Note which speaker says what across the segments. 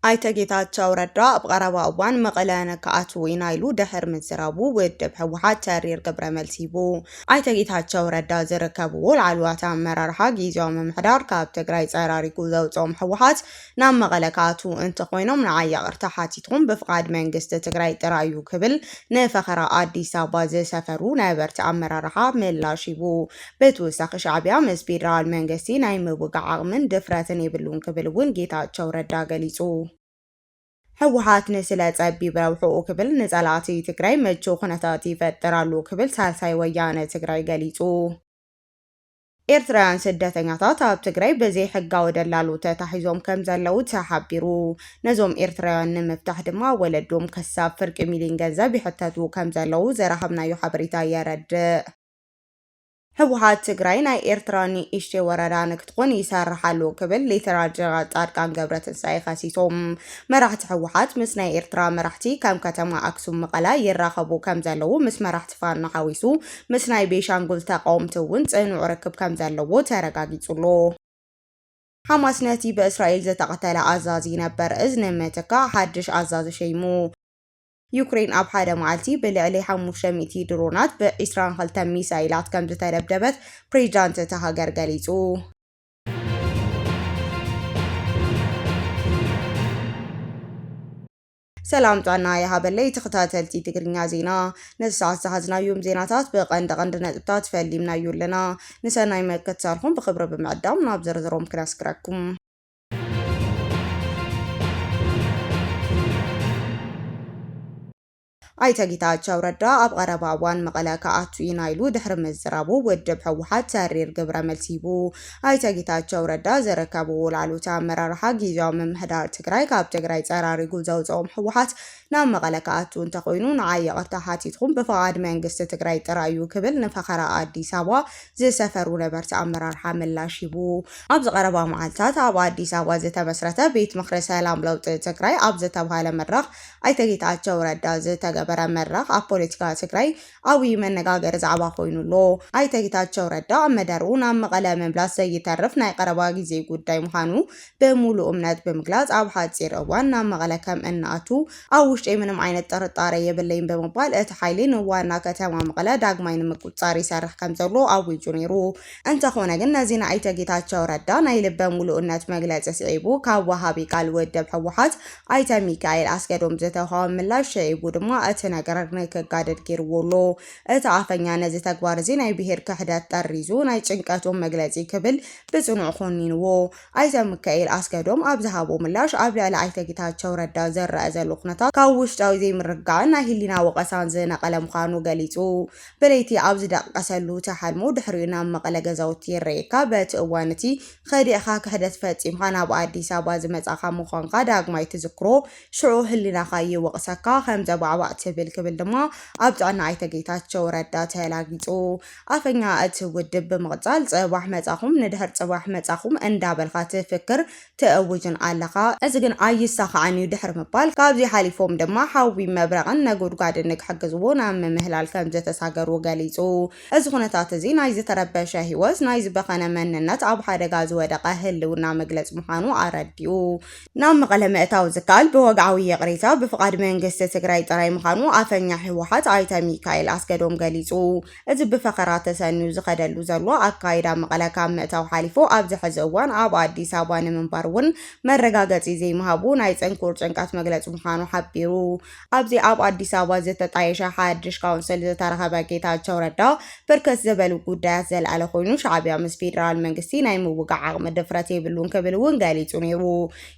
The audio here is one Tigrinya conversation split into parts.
Speaker 1: ኣይተ ጌታቸው ረዳ ኣብ ቐረባ እዋን መቐለ ንክኣትው ኢና ኢሉ ድሕር ምዝራቡ ውድብ ህወሓት ተሪር ግብረ መልሲ ሂቡ። ኣይተ ጌታቸው ረዳ ዝርከብዎ ላዕለዋት ኣመራርሓ ጊዜያዊ ምምሕዳር ካብ ትግራይ ፀራሪጉ ዘውፅኦም ህወሓት ናብ መቐለ ክኣትዉ እንተኾይኖም ንዓይ ይቕርታ ሓቲትኩም ብፍቓድ መንግስቲ ትግራይ ጥራይ እዩ ክብል ንፈኸራ ኣዲስ ኣበባ ዝሰፈሩ ነበርቲ ኣመራርሓ ምላሽ ሂቡ። ብትውሳኺ ሻዕቢያ ምስ ፌደራል መንግስቲ ናይ ምውጋእ ዓቕምን ድፍረትን የብሉን ክብል እውን ጌታቸው ረዳ ገሊፁ። ህወሓት ንስለ ፀቢብ ረብሕኡ ክብል ንፀላእቲ ትግራይ ምቹው ኩነታት ይፈጥር ኣሎ ክብል ሳልሳይ ወያነ ትግራይ ገሊፁ። ኤርትራውያን ስደተኛታት ኣብ ትግራይ ብዘይሕጋዊ ደላሎ ተታሒዞም ከምዘለዉ ተሓቢሩ። ነዞም ኤርትራውያን ንምፍታሕ ድማ ወለዶም ከሳብ ፍርቂ ሚሊን ገንዘብ ይሕተቱ ከምዘለዉ ዝረኸብናዮ ሓበሬታ የረድእ። ህወሓት ትግራይ ናይ ኤርትራ ንእሽተይ ወረዳ ንክትኾን ይሰርሕ ኣሎ ክብል ሌተናል ጀነራል ፃድቃን ገብረትንሳኤ ከሲሶም። መራሕቲ ህወሓት ምስ ናይ ኤርትራ መራሕቲ ከም ከተማ ኣክሱም መቐለ ይራኸቡ ከምዘለዉ ምስ መራሕቲ ፋኖ ሓዊሱ ምስ ናይ ቤንሻንጉል ተቓወምቲ እውን ጽኑዕ ርክብ ከም ዘለዎ ተረጋጊጹ'ሎ። ሓማስ ነቲ ብእስራኤል ዝተቐተለ ኣዛዚ ነበር እዝ ንምትካእ ሓድሽ ኣዛዚ ሸይሙ። ዩክሬን ኣብ ሓደ መዓልቲ ብልዕሊ ሓሙሽተ ሚእቲ ድሮናት ብ ዕስራን ክልተን ሚሳይላት ከም ዝተደብደበት ፕሬዚዳንት እታ ሃገር ገሊጹ። ሰላም ጥዕና ይሃበለይ ተኸታተልቲ ትግርኛ ዜና፣ ነዚ ሰዓት ዝሓዝናዮም ዜናታት ብቐንዲ ቐንዲ ነጥብታት ፈሊምናዮ ኣለና። ንሰናይ ምክትታልኩም ብኽብሪ ብምዕዳም ናብ ዝርዝሮም ክነስግረኩም። ኣይተ ጌታቸው ረዳ ኣብ ቐረባ እዋን መቐለ ክኣቱ ኢና ኢሉ ድሕሪ ምዝራቡ ውድብ ህወሓት ተሪር ግብረ መልሲ ሂቡ። ኣይተ ጌታቸው ረዳ ዘረከቡ ውል ኣሉታ ኣመራርሓ ጊዚያዊ ምምሕዳር ትግራይ ካብ ትግራይ ፀራሪጉ ዘውፀኦም ህወሓት ናብ መቐለ ክኣቱ እንተኾይኑ ንዓይ ይቕርታ ሓቲትኹም ብፍቓድ መንግስቲ ትግራይ ጥራይ እዩ ክብል ንፈኸራ ኣዲስ ኣበባ ዝሰፈሩ ነበርቲ ኣመራርሓ ምላሽ ሂቡ። ኣብዚ ቀረባ መዓልታት ኣብ ኣዲስ ኣበባ ዝተመስረተ ቤት ምኽሪ ሰላም ለውጢ ትግራይ ኣብ ዝተብሃለ መድረኽ ኣይተ ጌታቸው ረዳ ዝተገበረ መድረኽ ኣብ ፖለቲካ ትግራይ ዓብይ መነጋገሪ ዛዕባ ኮይኑ ኣሎ። ኣይተ ጌታቸው ረዳ ኣብ መደርኡ ናብ መቐለ ምምላስ ዘይተርፍ ናይ ቐረባ ጊዜ ጉዳይ ምዃኑ ብሙሉእ እምነት ብምግላፅ ኣብ ሓፂር እዋን ናብ መቐለ ከም እንኣቱ ኣብ ውሽጠይ ምንም ዓይነት ጥርጣረ የብለይን ብምባል እቲ ሓይሊ ንዋና ከተማ መቐለ ዳግማይ ንምቁፅፃር ይሰርሕ ከም ዘሎ ኣዊጁ ነይሩ። እንተኾነ ግን ነዚ ንኣይተ ጌታቸው ረዳ ናይ ልበ ሙሉእነት መግለፂ ስዒቡ ካብ ወሃቢ ቃል ውድብ ህወሓት ኣይተ ሚካኤል ኣስገዶም ዝተውሃበ ምላሽ ስዒቡ ድማ እቲ ነገር ንክጋደድ ገይርዎ ኣሎ። እቲ ኣፈኛ ነዚ ተግባር እዚ ናይ ብሄር ክሕደት ጠሪዙ ናይ ጭንቀቶም መግለፂ ክብል ብፅኑዕ ኮኒንዎ። ኣይተ ሚካኤል ኣስገዶም ኣብ ዝሃቦ ምላሽ ኣብ ልዕሊ ኣይተ ጌታቸው ረዳ ዝረኣ ዘሎ ኩነታት ካብ ውሽጣዊ ዘይምርግጋዕን ናይ ህሊና ወቐሳን ዝነቐለ ምዃኑ ገሊፁ። ብለይቲ ኣብ ዝደቕቀሰሉ ትሓልሞ ድሕሪኡ ናብ መቐለ ገዛውቲ ይረኤካ በቲ እዋን እቲ ከዲዕኻ ክሕደት ፈጺምካ ናብ ኣዲስ ኣበባ ዝመጻኻ ምዃንካ ዳግማይ ትዝክሮ ሽዑ ህሊናኻ ይወቕሰካ ከም ዘባዕባዕ ትብል ክብል ድማ ኣብ ጥዕና ኣይተ ጌታቸው ረዳ ተላጊጹ ኣፈኛ እቲ ውድብ ብምቕጻል ጽባሕ መጻኹም ንድሕር ጽባሕ መጻኹም እንዳበልካ ትፍክር ትእውጅን ኣለኻ፣ እዚ ግን ኣይሳኻዕን እዩ ድሕሪ ምባል፣ ካብዚ ሓሊፎም ድማ ሓዊ፣ መብረቕን ነጎድጓድን ንክሕግዝዎ ናብ ምምህላል ከምዘተሳገሩ ገሊጹ። እዚ ኩነታት እዚ ናይ ዝተረበሸ ህይወት፣ ናይ ዝበኸነ መንነት፣ ኣብ ሓደጋ ዝወደቐ ህልውና መግለጺ ምዃኑ ኣረዲኡ። ናብ መቐለ ምእታው ዝከኣል ብወግዓዊ ይቕሬታ፣ ብፍቓድ መንግስቲ ትግራይ ጥራይ ምዃኑ ኣፈኛ ህወሓት ኣይተ ሚካኤል ኣስገዶም ገሊጹ። እዚ ብፈኸራ ተሰንዩ ዝኸደሉ ዘሎ ኣካይዳ መቐለ ካብ ምእታው ሓሊፉ ኣብዚ ሕዚ እዋን ኣብ ኣዲስ ኣበባ ንምንባር እውን መረጋገፂ ዘይምሃቡ ናይ ፅንኩር ጭንቀት መግለፂ ምዃኑ ሓቢሩ። ኣብዚ ኣብ ኣዲስ ኣበባ ዝተጣየሸ ሓድሽ ካውንስል ዝተረኸበ ጌታቸው ረዳ ብርክት ዝበሉ ጉዳያት ዘልዐለ ኮይኑ ሻዕቢያ ምስ ፌዴራል መንግስቲ ናይ ምውጋዕ ዓቕሚ ድፍረት የብሉን ክብል እውን ገሊፁ ነይሩ።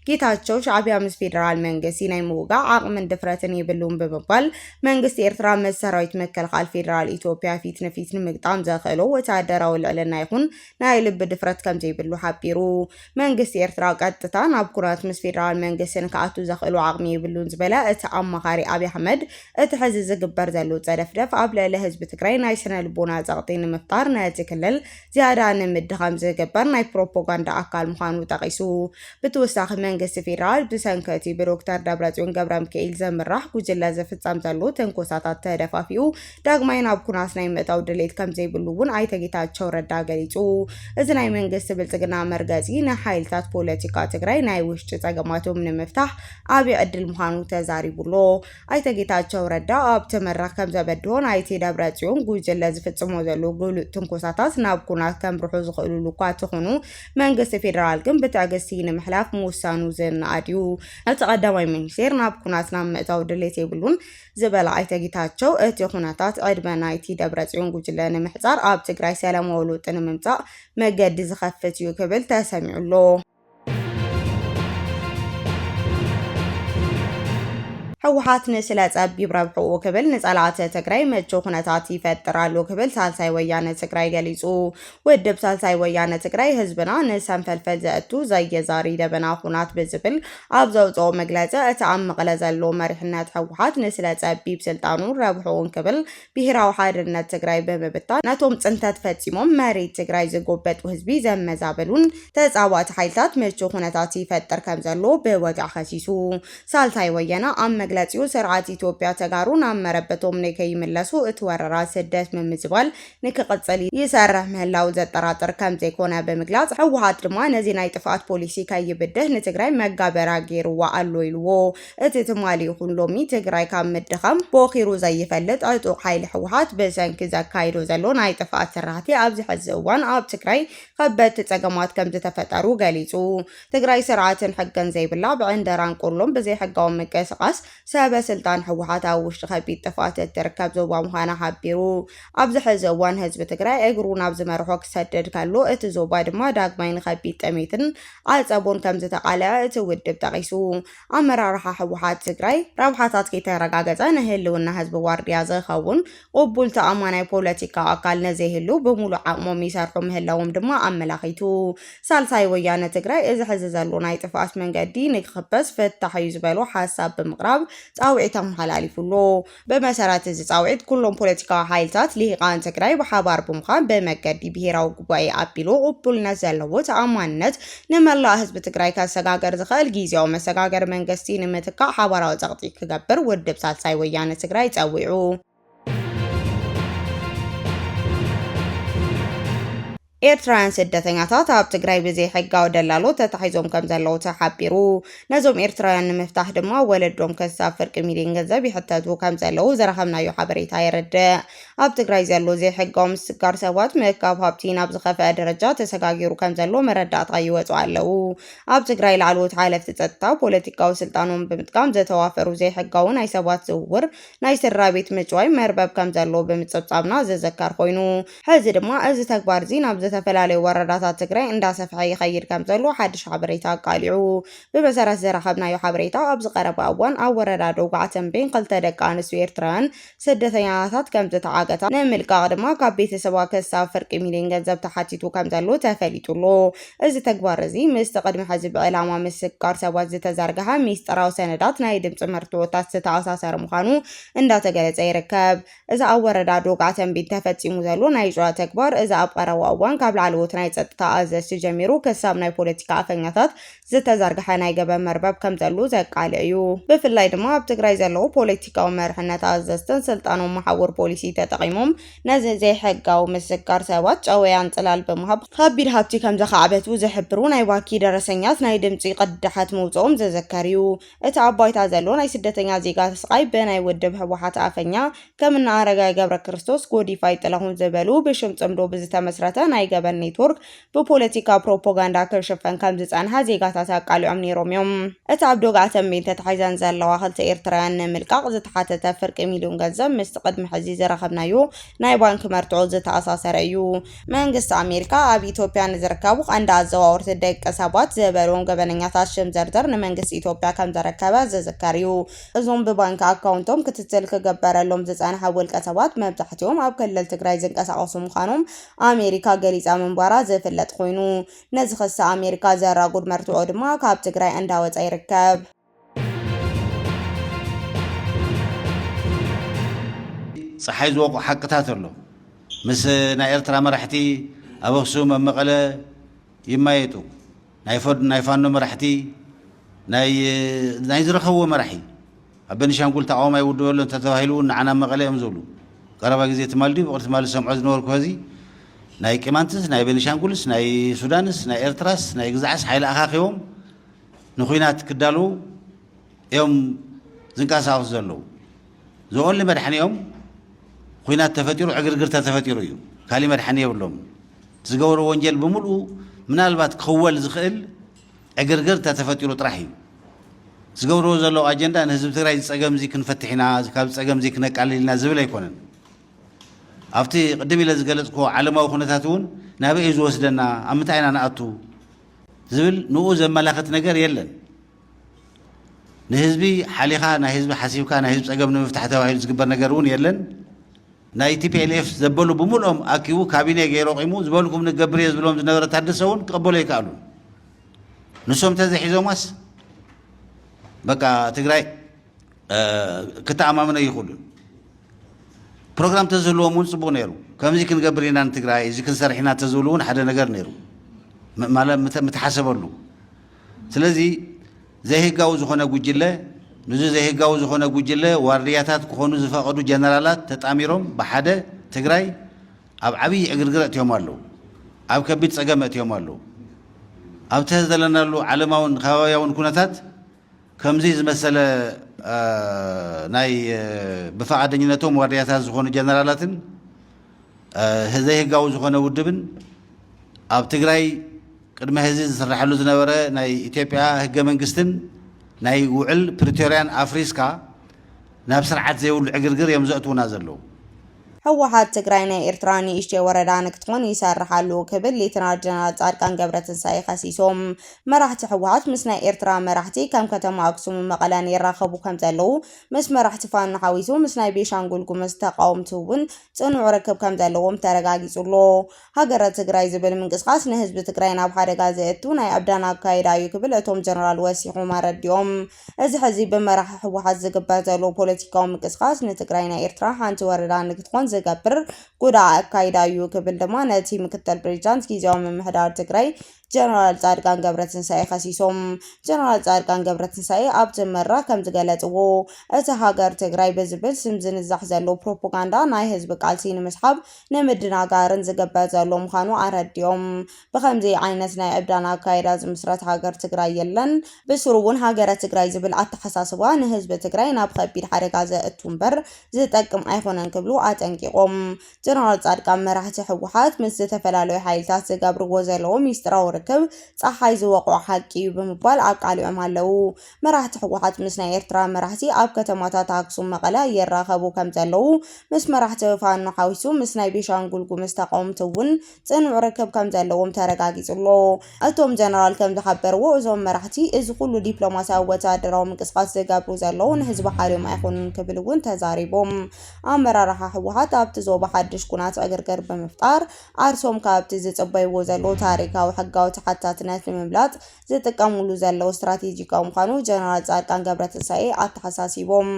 Speaker 1: ጌታቸው ሻዕቢያ ምስ ፌደራል መንግስቲ ናይ ምውጋእ ዓቕምን ድፍረትን የብሉን ብምባል መንግስቲ ኤርትራ ምስ ሰራዊት መከልኻል ፌደራል ኢትዮጵያ ፊት ንፊት ንምግጣም ዘኽእሎ ወተሃደራዊ ልዕልና ይኹን ናይ ልቢ ድፍረት ከምዘይብሉ ሓቢሩ። መንግስቲ ኤርትራ ቀጥታ ናብ ኩናት ምስ ፌደራል መንግስቲ ንክኣቱ ዘኽእሎ ዓቕሚ የብሉን ዝበለ እቲ ኣማኻሪ ኣብይ ኣሕመድ እቲ ሕዚ ዝግበር ዘሎ ጸደፍደፍ ኣብ ልዕሊ ህዝቢ ትግራይ ናይ ስነ ልቦና ጸቕጢ ንምፍጣር ነቲ ክልል ዝያዳ ንምድኻም ዝግበር ናይ ፕሮፖጋንዳ ኣካል ምዃኑ ጠቒሱ፣ ብትወሳኺ መንግስቲ ፌደራል ብሰንኪ እቲ ብዶክተር ደብረጽዮን ገብረምክኤል ዝምራሕ ጉጅለ ዝፍጸም ዘሎ ትንኮሳታት ተደፋፊኡ ዳግማይ ናብ ኩናት ናይ ምእታው ድሌት ከምዘይብሉ እውን ኣይተ ጌታቸው ረዳ ገሊጹ። እዚ ናይ መንግስቲ ብልጽግና መርገጺ ንሓይልታት ፖለቲካ ትግራይ ናይ ውሽጢ ጸገማቶም ንምፍታሕ ዓቢ ዕድል ምዃኑ ተዛሪቡ'ሎ። ኣይተ ጌታቸው ረዳ ኣብቲ መድረኽ ከምዘበድሆ ናይቲ ደብረፅዮን ጉጅለ ዝፍፅሞ ዘሎ ግሉፅ ትንኮሳታት ናብ ኩናት ከምርሑ ዝኽእልሉ እኳ ተኾኑ መንግስቲ ፌዴራል ግን ብትዕግስቲ ንምሕላፍ ምውሳኑ ዝነኣድ እዩ። እቲ ቀዳማይ ሚኒስቴር ናብ ኩናት ናብ ምእታው ድሌት የብሉን ዝበለ ኣይተ ጌታቸው እቲ ኩነታት ዕድመ ናይቲ ደብረፅዮን ጉጅለ ንምሕፃር ኣብ ትግራይ ሰላማዊ ለውጢ ንምምፃእ መገዲ ዝኸፍት እዩ ክብል ተሰሚዑ ኣሎ። ህወሓት ንስለ ጸቢብ ረብሕኡ ክብል ንጸላእቲ ትግራይ ምቹ ኩነታት ይፈጥር ኣሎ ክብል ሳልሳይ ወያነ ትግራይ ገሊጹ። ውድብ ሳልሳይ ወያነ ትግራይ ህዝብና ንሰንፈልፈል ዘእቱ ዘየዛሪ ደበና ኩናት ብዝብል ኣብ ዘውፅኦ መግለፂ እቲ ኣብ መቐለ ዘሎ መሪሕነት ህወሓት ንስለ ጸቢብ ስልጣኑ ረብሕኡን ክብል ብሄራዊ ሓርነት ትግራይ ብምብታን ነቶም ፅንተት ፈፂሞም መሬት ትግራይ ዝጎበጡ ህዝቢ ዘመዛበሉን ተፃባእቲ ሓይልታት ምቹው ኩነታት ይፈጥር ከምዘሎ ብወግዒ ከሲሱ። ሳልታይ ወያነ ኣብ መግለፂኡ ስርዓት ኢትዮጵያ ተጋሩ ናብ መረበቶም ንከይምለሱ እቲ ወረራ ስደት ምምዝባል ንክቕፅል ይሰርሕ ምህላው ዘጠራጥር ከምዘይኮነ ብምግላፅ ህወሓት ድማ ነዚ ናይ ጥፍኣት ፖሊሲ ከይብድህ ንትግራይ መጋበርያ ገይሩዋ ኣሎ ኢሉዎ። እቲ ትማሊ ይኹን ሎሚ ትግራይ ካብ ምድኻም ቦኺሩ ዘይፈልጥ ዕጡቕ ሓይሊ ህወሓት ብሰንኪ ዘካይዶ ዘሎ ናይ ጥፍኣት ስራሕቲ ኣብዚ ሕዚ እዋን ኣብ ትግራይ ኸበድቲ ፀገማት ከምዝተፈጠሩ ገሊፁ። ትግራይ ስርዓትን ሕግን ዘይብላ ብዕንደራን ቆሎን ብዘይሕጋዊ ምንቅስቓስ ሰበ ስልጣን ህወሓት ኣብ ውሽጢ ኸቢድ ጥፍኣት እትርከብ ዞባ ምዃና ሓቢሩ። ኣብዚ ሕዚ እዋን ህዝቢ ትግራይ እግሩ ናብ ዝመርሖ ክሰድድ ከሎ እቲ ዞባ ድማ ዳግማይ ንኸቢድ ጥሜትን ዓፀቦን ከምዝተቓለዐ እቲ ውድብ ጠቒሱ። ኣመራርሓ ህወሓት ትግራይ ረብሓታት ከይተረጋገፀ ንህልውና ህዝቢ ዋርድያ ዝኸውን ቕቡል ተኣማናይ ፖለቲካዊ ኣካል ነዘይህሉ ብሙሉእ ዓቕሞም ይሰርሑ ምህላዎም ድማ ኣመላኺቱ። ሳልሳይ ወያነ ትግራይ እዚ ሕዚ ዘሎ ናይ ጥፍኣት መንገዲ ንክኽበስ ፍታሕ እዩ ዝበሎ ሓሳብ ብምቕራብ ፃውዒት ኣመሓላሊፉ ኣሎ። ብመሰረት እዚ ፃውዒት ኩሎም ፖለቲካዊ ሓይልታት ሊሂቃን ትግራይ ብሓባር ብምዃን ብመገዲ ብሄራዊ ጉባኤ ኣቢሉ ቕቡልነት ዘለዎ ተኣማንነት ንመላእ ህዝቢ ትግራይ ከሰጋገር ዝኸእል ጊዚያዊ መሰጋገሪ መንገስቲ ንምትካእ ሓባራዊ ፀቕጢ ክገብር ውድብ ሳልሳይ ወያነ ትግራይ ፀዊዑ። ኤርትራውያን ስደተኛታት ኣብ ትግራይ ብዘይሕጋዊ ደላሎ ተታሒዞም ከምዘለዉ ተሓቢሩ። ነዞም ኤርትራውያን ንምፍታሕ ድማ ወለዶም ክሳብ ፍርቂ ሚልዮን ገንዘብ ይሕተቱ ከምዘለዉ ዝረኸብናዮ ሓበሬታ የረድእ። ኣብ ትግራይ ዘሎ ዘይሕጋዊ ምስጋር ሰባት ምእካብ ሃብቲ ናብ ዝኸፈኣ ደረጃ ተሰጋጊሩ ከምዘሎ መረዳእታ ይወጹ ኣለዉ። ኣብ ትግራይ ላዕለዎት ሓለፍቲ ጸጥታ ፖለቲካዊ ስልጣኖም ብምጥቃም ዘተዋፈሩ ዘይሕጋዊ ናይ ሰባት ዝውውር፣ ናይ ስድራቤት ምጭዋይ፣ መርበብ ከምዘሎ ብምጽብጻብና ዝዝከር ኮይኑ፣ ሕዚ ድማ እዚ ተግባር እዚ ናብ ዝተፈላለዩ ወረዳታት ትግራይ እንዳሰፍሐ ይኸይድ ከምዘሎ ሓድሽ ሓበሬታ ኣቃሊዑ። ብመሰረት ዝረኸብናዮ ሓበሬታ ኣብዚ ቀረባ እዋን ኣብ ወረዳ ደጉዓ ተምቤን ክልተ ደቂ ኣንስትዮ ኤርትራውያን ስደተኛታት ከምዝተዓገታ፣ ንምልቃቕ ድማ ካብ ቤተሰባ ክሳብ ፍርቂ ሚልዮን ገንዘብ ተሓቲቱ ከምዘሎ ተፈሊጡ ኣሎ። እዚ ተግባር እዚ ምስቲ ቅድሚ ሕዚ ብዕላማ ምስግጋር ሰባት ዝተዘርገሐ ሚስጥራዊ ሰነዳት ናይ ድምጺ መርትዖታት ዝተኣሳሰረ ምዃኑ እንዳተገለጸ ይርከብ። እዚ ኣብ ወረዳ ዶጋ ተምቢን ተፈጺሙ ዘሎ ናይ ጭዋ ተግባር እዚ ኣብ ቀረባ እዋን ካብ ላዕለዎት ናይ ጸጥታ ኣዘዝቲ ጀሚሩ ክሳብ ናይ ፖለቲካ ኣፈኛታት ዝተዘርግሐ ናይ ገበን መርበብ ከምዘሉ ዘቃልዕ እዩ። ብፍላይ ድማ ኣብ ትግራይ ዘለዉ ፖለቲካዊ መርሕነት ኣዘዝትን ስልጣኖም መሓውር ፖሊሲ ተጠቒሞም ነዚ ዘይሕጋዊ ምስጋር ሰባት ጨወያን ጽላል ብምሃብ ከቢድ ሃብቲ ከምዘኻዕበቱ ዝሕብሩ ናይ ባኪ ደረሰኛት ናይ ድምጺ ቅዳሓት ምውጽኦም ዝዝከር እዩ። እቲ ኣብ ባይታ ዘሎ ናይ ስደተኛ ዜጋ ስቓይ ብናይ ውድብ ህወሓት ኣፈኛ ከም እነ ኣረጋይ ገብረ ክርስቶስ፣ ጎዲፋይ ጥላሁን ዝበሉ ብሽም ጽምዶ ብዝተመስረተ ናይ ገበን ኔትወርክ ብፖለቲካ ፕሮፓጋንዳ ክሽፈን ከም ዝጸንሐ ዜጋታት ኣቃሊዖም ነይሮም እዮም። እቲ ኣብ ዶግዓ ተምቤን ተታሒዘን ዘለዋ ክልተ ኤርትራውያን ንምልቃቕ ዝተሓተተ ፍርቂ ሚልዮን ገንዘብ ምስቲ ቅድሚ ሕዚ ዝረኸብናዮ ናይ ባንኪ መርትዖ ዝተኣሳሰረ እዩ። መንግስቲ ኣሜሪካ ኣብ ኢትዮጵያ ንዝርከቡ ቀንዲ ኣዘዋወርቲ ደቂ ሰባት ዝበልዎም ገበነኛታት ሽም ዘርዘር ንመንግስቲ ኢትዮጵያ ከምዘረከበ ዝዝከር እዩ። እዞም ብባንኪ ኣካውንቶም ክትትል ክግበረሎም ዝፀንሐ ውልቀ ሰባት መብዛሕቲኦም ኣብ ክልል ትግራይ ዝንቀሳቐሱ ምዃኖም ኣሜሪካ ገሊፃ ምንባራ ዝፍለጥ ኾይኑ ነዚ ክሲ ኣሜሪካ ዘራጉድ መርትዖ ድማ ካብ ትግራይ እንዳወፀ ይርከብ።
Speaker 2: ጸሓይ ዝወቕዑ ሓቅታት ኣሎ። ምስ ናይ ኤርትራ መራሕቲ ኣብ ኣክሱም ኣብ መቐለ ይማየጡ። ናይ ፋኖ መራሕቲ ናይ ዝረኸብዎ መራሒ ኣብ ቤኒሻንጉል ተቃውሞ ኣይውድበ ኣሎ እንተተባሂሉ እውን ንዓና መቐለ እዮም ዝብሉ። ቀረባ ግዜ ትማል ድዩ ብቕሪ ትማል ዝሰምዖ ዝነበርኩ ከዚ ናይ ቂማንትስ ናይ ቤኒሻንጉልስ ናይ ሱዳንስ ናይ ኤርትራስ ናይ ግዛዕስ ሓይሊ ኣኻኺቦም ንኩናት ክዳልዉ እዮም ዝንቀሳቀሱ ዘለዉ ዘኦንሊ መድሓኒኦም ኩናት ተፈጢሩ ዕግርግር ተተፈጢሩ እዩ ካሊእ መድሓኒ የብሎምን እቲ ዝገበርዎ ወንጀል ብምልኡ ምናልባት ክኽወል ዝኽእል ዕግርግር ተተፈጢሩ ጥራሕ እዩ ዝገብርዎ ዘለዉ ኣጀንዳ ንህዝቢ ትግራይ ዝፀገም እዚ ክንፈትሕ ኢና ካብ ዝፀገም እዚ ክነቃልል ኢና ዝብል ኣይኮነን ኣብቲ ቅድም ኢለ ዝገለፅክዎ ዓለማዊ ኩነታት እውን ናበይ እዩ ዝወስደና ኣብ ምንታይ ኢና ንኣቱ ዝብል ንኡ ዘመላኽት ነገር የለን። ንህዝቢ ሓሊኻ ናይ ህዝቢ ሓሲብካ ናይ ህዝቢ ጸገም ንምፍታሕ ተባሂሉ ዝግበር ነገር እውን የለን። ናይ ቲፒኤልኤፍ ዘበሉ ብምልኦም ኣኪቡ ካቢኔ ገይሩ ኣቑሙ ዝበልኩም ንገብር እየ ዝብሎም ዝነበረ ታደሰ እውን ክቐበሉ ኣይከኣሉን። ንሶም እንተዘይሒዞማስ በቃ ትግራይ ክተኣማምኖ ኣይኽእሉን። ፕሮግራም እንተዝህልዎም እውን ፅቡቕ ነይሩ። ከምዚ ክንገብር ኢና ንትግራይ፣ እዚ ክንሰርሕ ኢና እንተዝብሉ እውን ሓደ ነገር ነይሩ ማለት ምተሓሰበሉ። ስለዚ ዘይህጋዊ ዝኾነ ጉጅለ ንዚ ዘይህጋዊ ዝኾነ ጉጅለ ዋርድያታት ክኾኑ ዝፈቐዱ ጀነራላት ተጣሚሮም ብሓደ ትግራይ ኣብ ዓብዪ ዕግርግር ኣእትዮም ኣለዉ። ኣብ ከቢድ ፀገም ኣእትዮም ኣለዉ። ኣብ ተህ ዘለናሉ ዓለማውን ከባብያውን ኩነታት ከምዙይ ዝመሰለ ናይ ብፍቓደኝነቶም ዋርድያታት ዝኾኑ ጀነራላትን ዘይህጋዊ ዝኾነ ውድብን ኣብ ትግራይ ቅድሚ ሕዚ ዝስራሐሉ ዝነበረ ናይ ኢትዮጵያ ህገ መንግስትን ናይ ውዕል ፕሪቶርያን ኣፍሪስካ ናብ ስርዓት ዘይብሉ ዕግርግር እዮም ዘእትውና ዘለዉ። ህወሓት
Speaker 1: ትግራይ ናይ ኤርትራ ንእሽተይ ወረዳ ንክትኾን ይሰርሕ ኣሉ ክብል ሌተናል ጀነራል ፃድቃን ገብረትንሳኤ ከሲሶም። መራሕቲ ህወሓት ምስ ናይ ኤርትራ መራሕቲ ከም ከተማ ኣክሱምን መቐለን ይራኸቡ ከምዘለዉ ምስ መራሕቲ ፋኖ ሓዊሱ ምስ ናይ ቤንሻንጉል ጉምዝ ተቓወምቲ እውን ፅኑዕ ርክብ ከምዘለዎም ተረጋጊፁ ኣሎ። ሃገረ ትግራይ ዝብል ምንቅስቓስ ንህዝቢ ትግራይ ናብ ሓደጋ ዘእቱ ናይ ዕብዳን ኣካይዳ እዩ ክብል እቶም ጀነራል ወሲኾም ኣረዲኦም። እዚ ሕዚ ብመራሒ ህወሓት ዝግበር ዘሎ ፖለቲካዊ ምንቅስቓስ ንትግራይ ናይ ኤርትራ ሓንቲ ወረዳ ንክትኾን ዝገብር ጉዳእ ኣካይዳ እዩ ክብል ድማ ነቲ ምክትል ፕሬዚዳንት ጊዜያዊ ምምሕዳር ትግራይ ጀነራል ጻድቃን ገብረትንሳኤ ከሲሶም። ጀነራል ጻድቃን ገብረትንሳኤ ኣብቲ መድረኽ ከምዝገለጽዎ እቲ ሃገር ትግራይ ብዝብል ስም ዝንዛሕ ዘሎ ፕሮፖጋንዳ ናይ ህዝቢ ቃልሲ ንምስሓብ ንምድናጋርን ዝግበር ዘሎ ምዃኑ ኣረዲኦም። ብኸምዚ ዓይነት ናይ ዕብዳን ኣካይዳ ዝምስረት ሃገር ትግራይ የለን። ብስሩ እውን ሃገረ ትግራይ ዝብል ኣተሓሳስባ ንህዝቢ ትግራይ ናብ ኸቢድ ሓደጋ ዘእቱ እምበር ዝጠቅም ኣይኾነን ክብሉ ኣጠንቂቖም። ጀነራል ፃድቃን መራሕቲ ህወሓት ምስ ዝተፈላለዩ ሓይልታት ዝገብርዎ ዘለዉ ሚስጢራዊ ርክብ ፀሓይ ዝወቕዖ ሓቂ እዩ ብምባል ኣቃሊዖም ኣለዉ። መራሕቲ ህወሓት ምስ ናይ ኤርትራ መራሕቲ ኣብ ከተማታት ኣክሱም፣ መቐለ ይራኸቡ ከምዘለዉ ምስ መራሕቲ ፋኖ ሓዊሱ ምስ ናይ ቤንሻንጉል ጉምዝ ተቓወምቲ እውን ጽኑዕ ርክብ ከምዘለዎም ተረጋጊጹ ኣሎ። እቶም ጀነራል ከምዝሓበርዎ እዞም መራሕቲ እዚ ኩሉ ዲፕሎማስያዊ ወተሃደራዊ ምንቅስቓስ ዝገብሩ ዘለዉ ንህዝቢ ሓልዮም ኣይኮኑን ክብል እውን ተዛሪቦም። ኣመራርሓ ህወሓት ኣብቲ ዞባ ሓድሽ ኩናት ዕግርግር ብምፍጣር ዓርሶም ካብቲ ዝጽበይዎ ዘለዉ ታሪካዊ ሕጋዊ ተሓታትነት ንምምላጥ ዝጥቀምሉ ዘለዉ ስትራቴጂካዊ ምዃኑ ጀነራል ጻድቃን ገብረትንሳኤ ኣተሓሳሲቦም።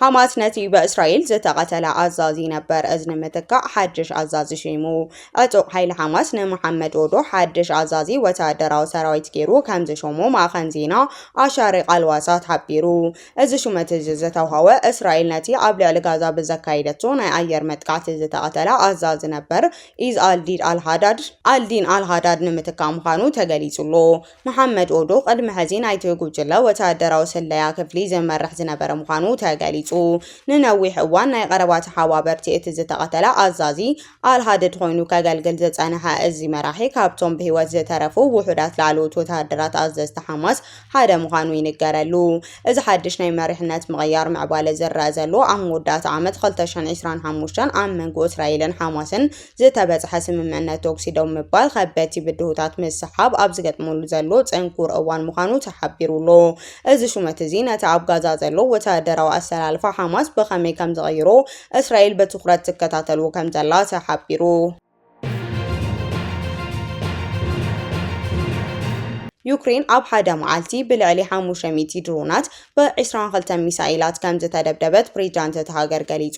Speaker 1: ሓማስ ነቲ ብእስራኤል ዝተቐተለ ኣዛዚ ነበር እዚ ንምትካእ ሓድሽ ኣዛዚ ሸይሙ። ዕጡቕ ሓይሊ ሓማስ ንመሓመድ ኦዶ ሓድሽ ኣዛዚ ወተሃደራዊ ሰራዊት ገይሩ ከም ዝሸሞ ማእኸን ዜና ኣሻሪቕ ኣልዋሳት ሓቢሩ። እዚ ሹመት እዚ ዝተውሃወ እስራኤል ነቲ ኣብ ልዕሊ ጋዛ ብዘካየደቶ ናይ ኣየር መጥቃዕቲ ዝተቐተለ ኣዛዚ ነበር ኢዝ ኣልዲድ ኣልሃዳድ ኣልዲን ኣልሃዳድ ንምትካእ ምዃኑ ተገሊጹ ኣሎ። መሓመድ ኦዶ ቅድሚ ሕዚ ናይቲ ጉጅለ ወተሃደራዊ ስለያ ክፍሊ ዝመርሕ ዝነበረ ምዃኑ ተገሊጹ። ንነዊሕ እዋን ናይ ቐረባ ተሓባበርቲ እቲ ዝተቐተለ ኣዛዚ ኣልሃድድ ኮይኑ ከገልግል ዝጸንሐ እዚ መራሒ ካብቶም ብህይወት ዝተረፉ ውሑዳት ላዕለዎት ወተሃደራት ኣዘዝቲ ሓማስ ሓደ ምዃኑ ይንገረሉ። እዚ ሓድሽ ናይ መሪሕነት ምቕያር ምዕባለ ዝረኣ ዘሎ ኣብ መወዳእታ ዓመት ክልተ ሽሕን ዕስራን ሓሙሽተን ኣብ መንጎ እስራኤልን ሓማስን ዝተበጽሐ ስምምዕነት ተኩሲ ደው ምባል ከበድቲ ብድሆታት ምስሓብ ኣብ ዝገጥመሉ ዘሎ ጽንኩር እዋን ምዃኑ ተሓቢሩ ኣሎ። እዚ ሹመት እዚ ነቲ ኣብ ጋዛ ዘሎ ወተሃደራዊ ኣሰላልፋ ሓማስ ብኸመይ ከም ዝቕይሮ እስራኤል ብትኹረት ትከታተሎ ከም ዘላ ተሓቢሩ። ዩክሬን ኣብ ሓደ መዓልቲ ብልዕሊ ሓሙሽተ ሚእቲ ድሮናት ብ22 ሚሳኤላት ከምዝተደብደበት ፕሬዚዳንት እቲ ሃገር ገሊጹ።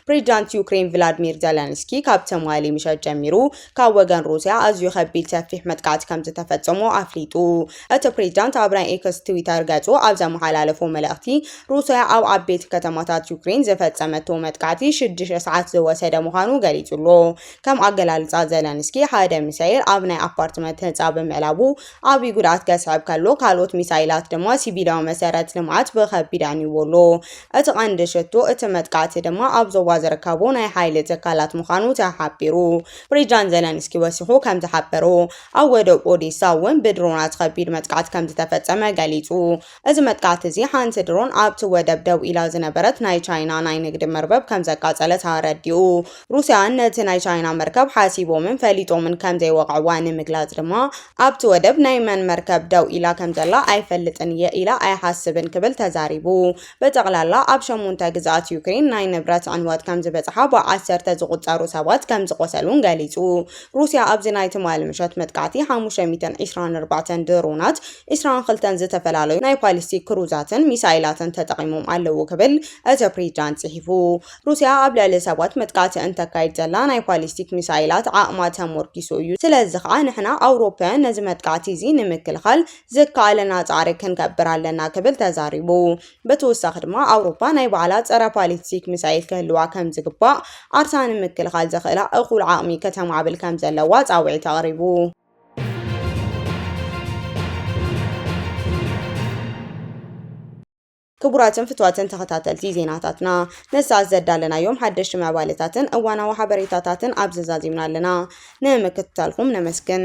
Speaker 1: ፕሬዚዳንት ዩክሬን ቭላድሚር ዘለንስኪ ካብ ትማሊ ምሸት ጀሚሩ ካብ ወገን ሩስያ ኣዝዩ ከቢድ ሰፊሕ መጥቃዕቲ ከምዝተፈጸሞ ኣፍሊጡ። እቲ ፕሬዚዳንት ኣብ ናይ ኤክስ ትዊተር ገጹ ኣብ ዘመሓላለፎ መልእኽቲ ሩስያ ኣብ ዓበይቲ ከተማታት ዩክሬን ዝፈጸመቶ መጥቃዕቲ ሽዱሽተ ሰዓት ዝወሰደ ምዃኑ ገሊጹ'ሎ። ከም ኣገላልጻ ዘለንስኪ ሓደ ሚሳኤል ኣብ ናይ ኣፓርትመንት ህንጻ ብምዕላቡ ዓብዪ ጉድኣት ከስዕብ ከሎ ካልኦት ሚሳይላት ድማ ሲቪላዊ መሰረት ልምዓት ብኸቢድ ኣንይዎ ኣሎ። እቲ ቀንዲ ሽቶ እቲ መጥቃዕቲ ድማ ኣብ ዞባ ዝርከቡ ናይ ሓይሊ ትካላት ምዃኑ ተሓቢሩ። ፕሬዚዳንት ዘለንስኪ ወሲኹ ከምዝሓበሮ ኣብ ወደብ ኦዴሳ እውን ብድሮናት ኸቢድ መጥቃዕቲ ከምዝተፈፀመ ገሊፁ። እዚ መጥቃዕቲ እዚ ሓንቲ ድሮን ኣብቲ ወደብ ደው ኢላ ዝነበረት ናይ ቻይና ናይ ንግዲ መርበብ ከም ዘቃጸለት ኣረዲኡ። ሩስያውያን ነቲ ናይ ቻይና መርከብ ሓሲቦምን ፈሊጦምን ከም ዘይወቕዕዋ ንምግላጽ ድማ ኣብቲ ወደብ ናይ መን መርከብ ደው ኢላ ከም ዘላ ኣይፈልጥን እየ ኢላ ኣይሓስብን ክብል ተዛሪቡ። ብጠቕላላ ኣብ ሸሞንተ ግዝኣት ዩክሬን ናይ ንብረት ዕንወት ከም ዝበጽሓ ብዓሰርተ ዝቑጸሩ ሰባት ከም ዝቖሰሉን ገሊጹ። ሩስያ ኣብዚ ናይ ትማሊ ምሸት መጥቃዕቲ ሓሙሽተ ሚእትን ዒስራን ኣርባዕተን ድሮናት ዕስራን ክልተን ዝተፈላለዩ ናይ ፓሊስቲክ ክሩዛትን ሚሳይላትን ተጠቒሞም ኣለዉ ክብል እቲ ፕሬዚዳንት ጽሒፉ። ሩስያ ኣብ ልዕሊ ሰባት መጥቃዕቲ እንተካይድ ዘላ ናይ ፓሊስቲክ ሚሳይላት ዓቕማ ተሞርኪሱ እዩ፣ ስለዚ ከኣ ንሕና ኣውሮፓውያን ነዚ መጥቃዕቲ እዚ ንምክልኻል ዝከኣለና ጻዕሪ ክንገብር ኣለና ክብል ተዛሪቡ። ብተወሳኺ ድማ ኣውሮፓ ናይ ባዕላ ጸረ ፓሊስቲክ ሚሳይል ክህልዋ ከም ዝግባእ፣ ዓርሳ ንምክልኻል ዘኽእላ እኹል ዓቕሚ ከተማዕብል ከም ዘለዋ ጻውዒት ኣቕሪቡ። ክቡራትን ፍትዋትን ተኸታተልቲ ዜናታትና ንሰዓት ዘዳለናዮም ሓደሽቲ ምዕባለታትን እዋናዊ ሓበሬታታትን ኣብ ዘዛዚምና ኣለና ንምክትታልኩም ነመስግን